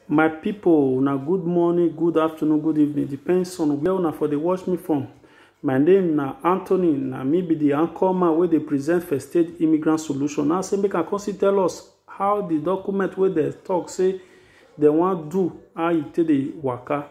my people una good morning good afternoon good evening depends on where una for dey watch me from my name na anthony na me be the anchor man wey dey present first state immigrant solution now say make i come see tell us how the document wey dem talk say dem wan do how e take dey waka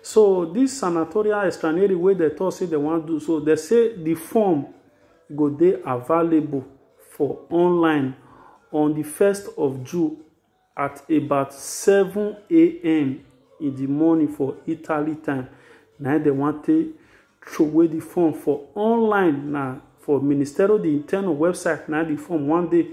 so this sanatorial extranery wey dem talk say dem wan do so dem say the form E go dey available for online on di first of June at about seven am in di morning for Italy time na im dem wan take throway di form for online na for Ministero di Interno website na di form wan dey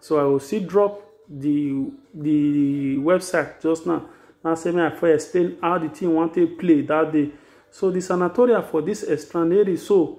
so I go still drop di di website just now na say make I for explain how di thing wan take play that day so di sanatoria for dis Estraneri so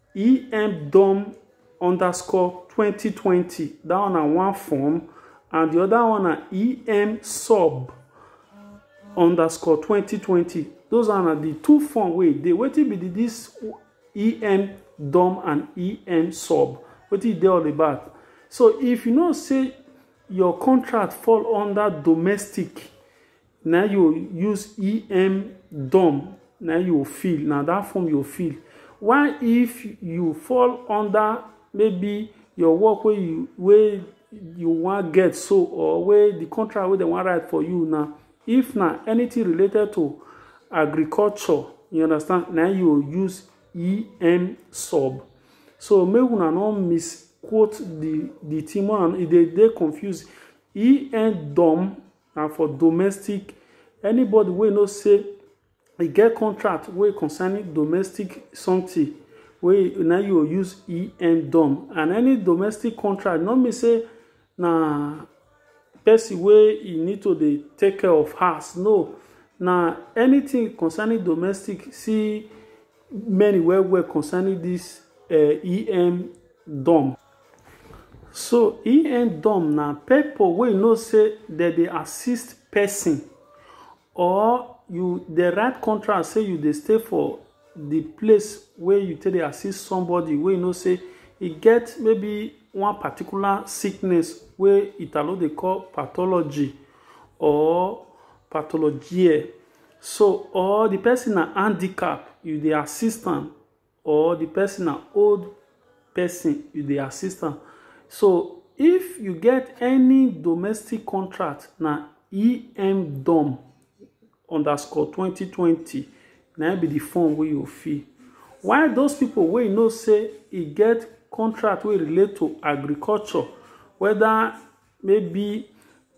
emdom underscore twenty twenty that one na one form and the other one na em sub underscore twenty twenty those are na the two form wey dey wetin be the this em dom and em sub wetin e dey all about so if you know say your contract fall under domestic na you go use em dom na you go feel na that form you go feel why if you fall under maybe your work wey you wey you wan get so or wey the contract wey dem wan write for you na if na anything related to agriculture you understand na you go use em sub so make una no misquote the the thing one e dey dey confuse em dom And for domestic, anybody wey know say e get contract wey concerning domestic something wey na you go use EN dom and any domestic contract no mean say na person wey e need to dey take care of house no na anything concerning domestic see many well well concerning this eh EN dom. So e end dom na people wey know say dem dey assist person or you dey write contract say you dey stay for the place wey you take dey assist somebody wey you know say e get maybe one particular sickness wey Italo dey call pathology or pathologie. So or the person na handicap, you dey assist am. or the person na old person you dey assist am so if you get any domestic contract na emdom underscore 2020 na be the form wey you fill while those people wey you know say e get contract wey relate to agriculture whether maybe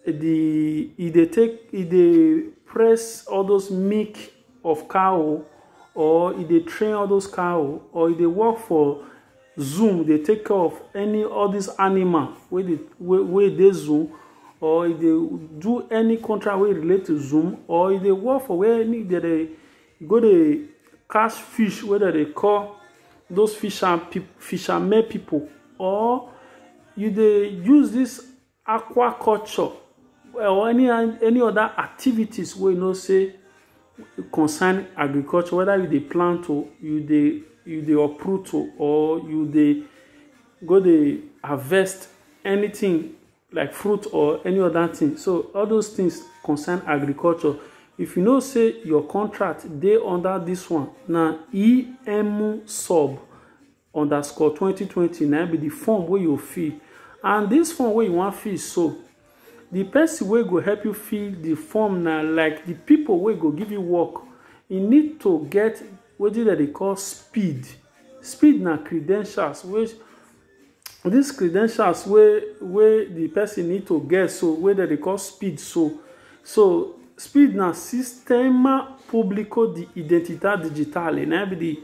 the e dey take e dey press all those milk of cow or e dey train all those cow or e dey work for zoom dey take care of any all these animal wey dey wey wey dey zoom or e dey do any contract wey relate to zoom or e dey work for where any dey dey go dey catch fish wey dem dey call those fisher fishermen people or you dey use this aquaculture or any any other activities wey you know say concern agriculture whether you dey plant o you dey you dey uproot o or you dey go dey harvest anything like fruit or any other thing so all those things concern agriculture if you know say your contract dey under this one na em sub underscore 2020 na be the form wey you fill and this form wey you wan fill so the person wey go help you fill the form na like the people wey go give you work e need to get wetin dem dey call speed speed na credentials wey this credentials wey wey the person need to get so wey dem dey call speed so so speed na sistema público de identidade digital na be the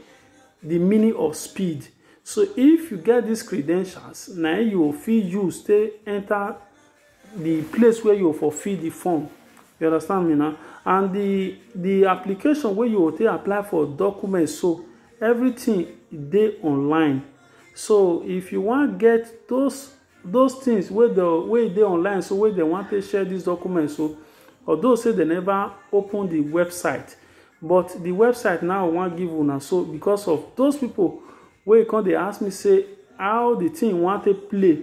the meaning of speed so if you get this credentials na you fit use take enter the place where you for fill the form you understand me now and the the application where you take apply for documents so everything dey online so if you wan get those those things wey the wey dey online so wey dem wan take share these documents so although say dem never open the website but the website now wan give una so because of those people wey come dey ask me say how the thing wan take play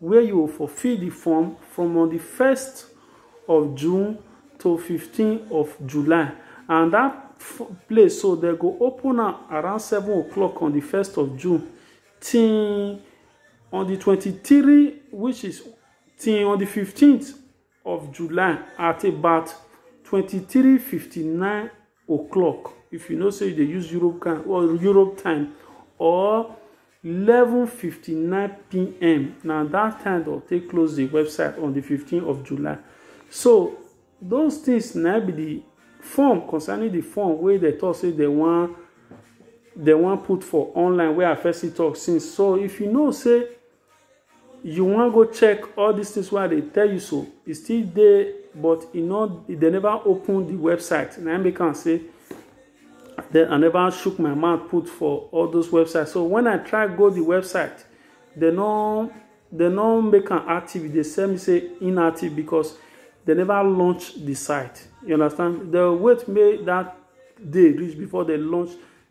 where you go for fill di form from on di first of June to fifteen of July and dat place so dem go open am around seven o'clock on di first of June till on di twenty-three which is till on di fifteenth of July at about twenty three fifty nine o'clock if you know say you dey use Europe time or Europe time or eleven fifty nine pm na that time dem take close the website on the fifteen of July so those things na be the form concerning the form wey dem talk say dem wan dem wan put for online wey I first see talk since so if you know say you wan go check all these things wey i dey tell you so e still dey but e no e dey never open the website na im make am say then i never shook my mouth put for all those websites so when i try go the website they no they no make am active e dey sell me say inactive because they never launch the site you understand they wait make that day reach before they launch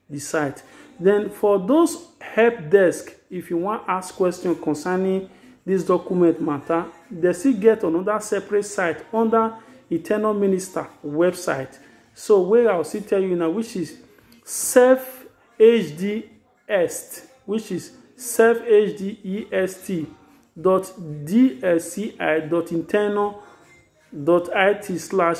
di site. Den for those help desk, if you wan ask question concerning dis document matter, dem still get another separate site under di tenor minister website. So wey I will still tell you now which is self hd est which is self hd est dot dsci dot internal dot it slash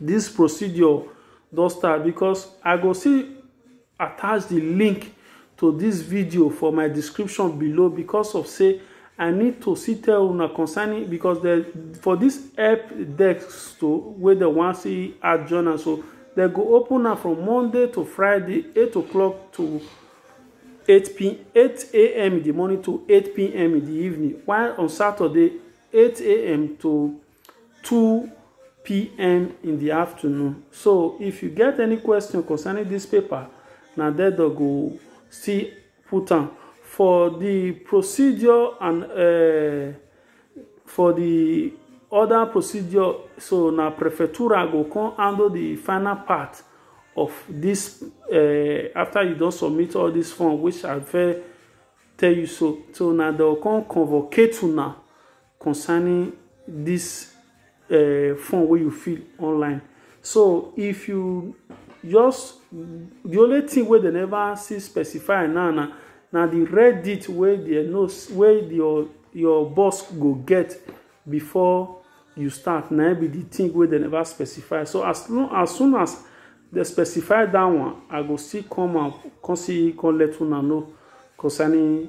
This procedure don start because I go still attach the link to this video for my description below because of say I need to see tell una concerning because the, for this help desk to where the one see add join am so they go open am from Monday to Friday eight o'clock to 8 p 8 a.m. in the morning to 8 p.m. in the evening while on Saturday 8 a.m. to 2 pm in the afternoon so if you get any question concerning this paper na there they go still put am for the procedure and uh, for the other procedure so na prefectura go come handle the final part of this uh, after you don submit all this form which i fit tell you so so na dem come convocate una concerning this uh, phone wey you feel online so if you just the only thing wey dem never see specify now na na the reddit wey the know wey your your boss go get before you start na be the thing wey dem never specify so as long as soon as dem specify that one i go still come out come see come let una know concerning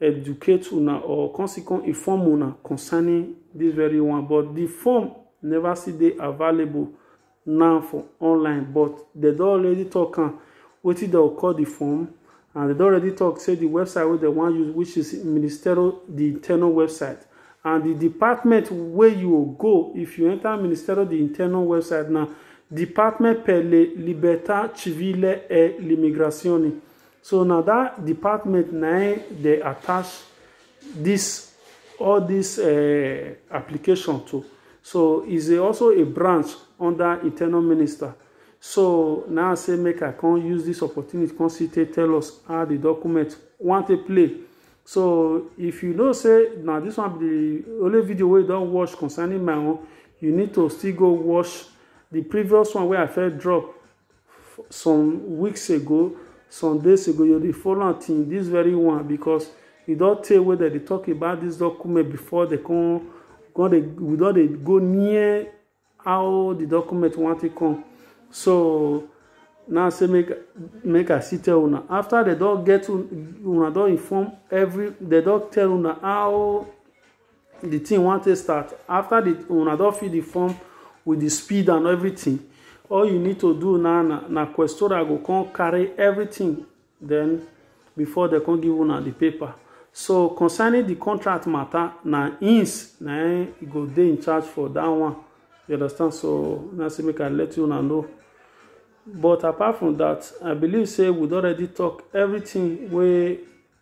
educate una or come still come inform una concerning this very one but the form never still dey available now for online but they don already talk am wetin dem call the form and they don already talk say the website wey dem wan use which is ministerial the internal website and the department wey you go if you enter ministerial the internal website na department per le libertà civile e l'immigrazione So na that department na im dey attach this all this uh, application to. So is also a branch under internal minister. So now I say make I come use this opportunity come see take tell us how the document want to play. So if you know say now this one be the only video we don't watch concerning my own, you need to still go watch the previous one where I first drop some weeks ago some days ago you dey follow am till this very one because e don tey wey dem dey talk about this document before dem come come dey we don dey go near how the document wan take come so now say make make i still tell una after dem don get una don inform every dem don tell una how the thing wan take start after the una don fill the form with the speed and everything all you need to do now na na questora go come carry everything then before they come give una the paper so concerning the contract matter na ins na e go dey in charge for that one you understand so na say make i let you una know but apart from that i believe say we don already talk everything wey